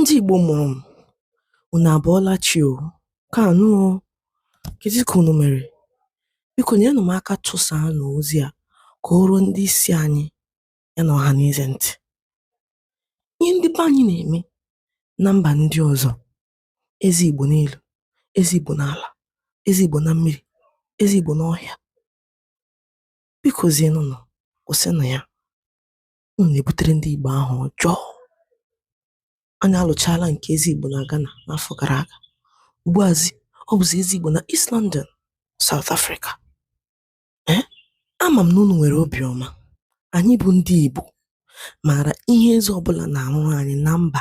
Ndị Igbo mụrụ m, unu abọọla chi o, kaanụ o, kedu ka unu mere? Biko nyenụ m aka tụsaanụ ozi a ka o ruo ndị isi anyị ya na Ọhaneze ntị. Ihe ndị be anyị na-eme na mba ndị ọzọ, eze Igbo n'elu, eze Igbo n'ala, eze Igbo na mmiri, eze Igbo n'ọhịa, bikozienụ nụ, kwụsịnụ ya. Unu na-ebutere ndị Igbo aha ọjọọ. Anyị alụchaala nke eze Igbo na Ghana n'afọ gara aga. Ugbuazi, ọ bụzi eze Igbo na East London, South Africa. Ee, eh? ama m na unu nwere obiọma. Anyị bụ ndị Igbo maara ihe eze ọbụla na-arụrụ anyị na mba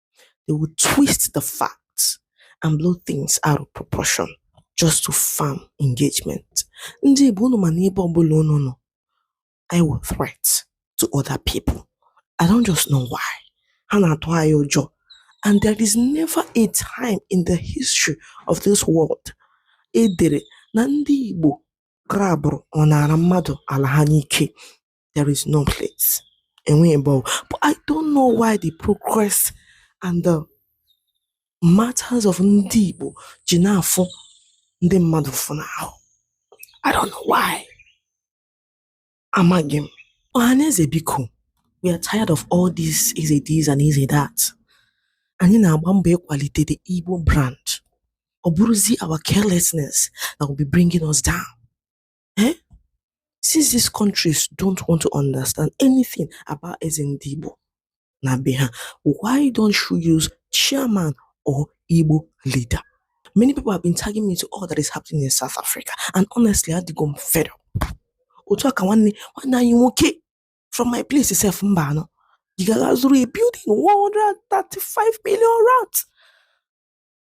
They will twist the facts and blow things out of proportion just to farm engagement. Ndị Igbo unu ma na ebe ọbụla unu nọ, anyị wụ threat to other people. I don't just know why. Ha na-atụ anyị ụjọ. And there is never a time in the history of this world e dere na ndị Igbo grabụrụ or naara mmadụ ala ha n'ike there is no place. Enweghị ebe ọ bụ but I don't know why the progress and the matters of ndị Igbo ji na-afụ ndị mmadụ ụfụ n'ahụ. I don't know why. Amaghị m. Ọhaneze biko, we are tired of all this eze this and eze that. Anyị na-agba mbọ ịkwalite the Igbo brand. Ọ bụrụzi our carelessness that will be bringing us down. Eh? Since these countries don't want to understand anything about Ezendibo Nabiha, why don't you use chairman or Igbo leader? Many people have been tagging me to all that is happening in South Africa, and honestly, I think I'm fed up. Otu aka nwanne nwanne anyị nwoke from my place itself mba anọ ị gara zụrụ a building 135 million rand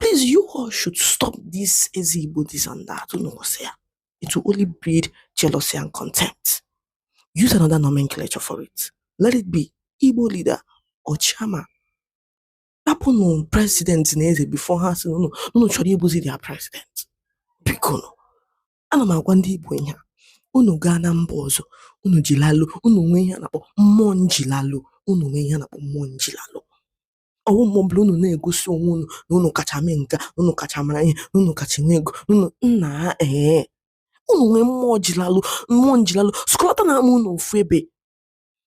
Please, you all should stop this Eze Igbo this and that, unu kwụsị ya. It will only breed jealousy and contempt. Use another nomenclature for it. Let it be Igbo leader or chairman. Hapụnụ president na eze before ha sị na unu chọrọ ịbụzi their president. Biko nụ, ana m agwa ndị Igbo ihe a, unu gaa na mba ọzọ, unu jilalụ, unu nwee ihe a na-akpọ mmụọ njilalụ, unu nwee ihe a na-akpọ mmụọ njilalụ. ọwụ mgbe ọbụla unu na-egosi onwe unu na unu kacha mee nke unu kacha mara ihe na unu kacha nwee ego unu nna ee unu nwee mmụọ jilalụ mmụọ njilalụ sụkọlata na ama unu ofu ebe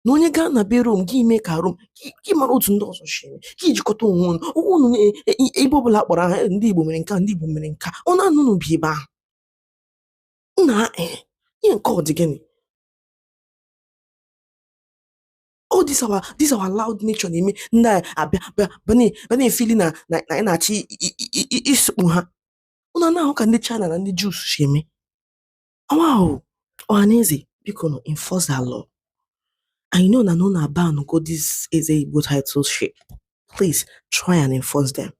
na onye gaa na be rome gị mee ka rome gị mara otu ndị ọzọ si eme gị jikọta onwe unu onwe unu e, e, e, ebe ọbụla a kpọrọ aha ndị igbo mere nke ndị igbo mere nke a ọ naanị unu bi ebe ahụ nna ee ihe nke ọ dị gịnị all this our this our loud nature na-eme ndị a abịa bịa bịa na- bịa na-efili na na na anyị na-achọ i- i- i- i- isụkpu ha unu ana-ahụ ka ndị China na ndị Jews si eme ọwa ahụ ọhaneze biko nụ enforce that law I know na unu abango this eze Igbo title shit please try and enforce them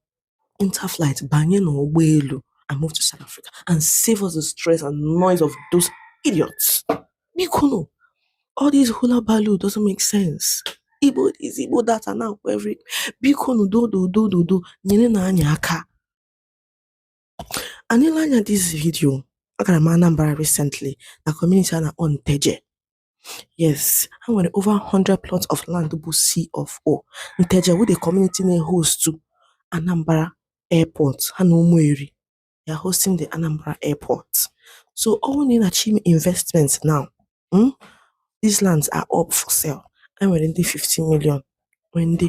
enter flight banye n'ụgbọelu and move to South Africa and save us the stress and noise of those idiots bikonu all this hula baloo doesn't make sense igbo is igbo data now for every bikonu dododododo nyere nụ anyị aka nele anya this video agara m Anambra recently na community a na-akpọ Nteje Yes, e nwere over 100 plots of land bụ C of O. Nteje wụ the community na-ehostu Anambra Airport ha na Ụmụeri. They are hosting the Anambra Airport. So ọ bụrụ na ị na-achọ ime investment now, mm, these lands are up for sale. E nwere ndị 15 million, nwee ndị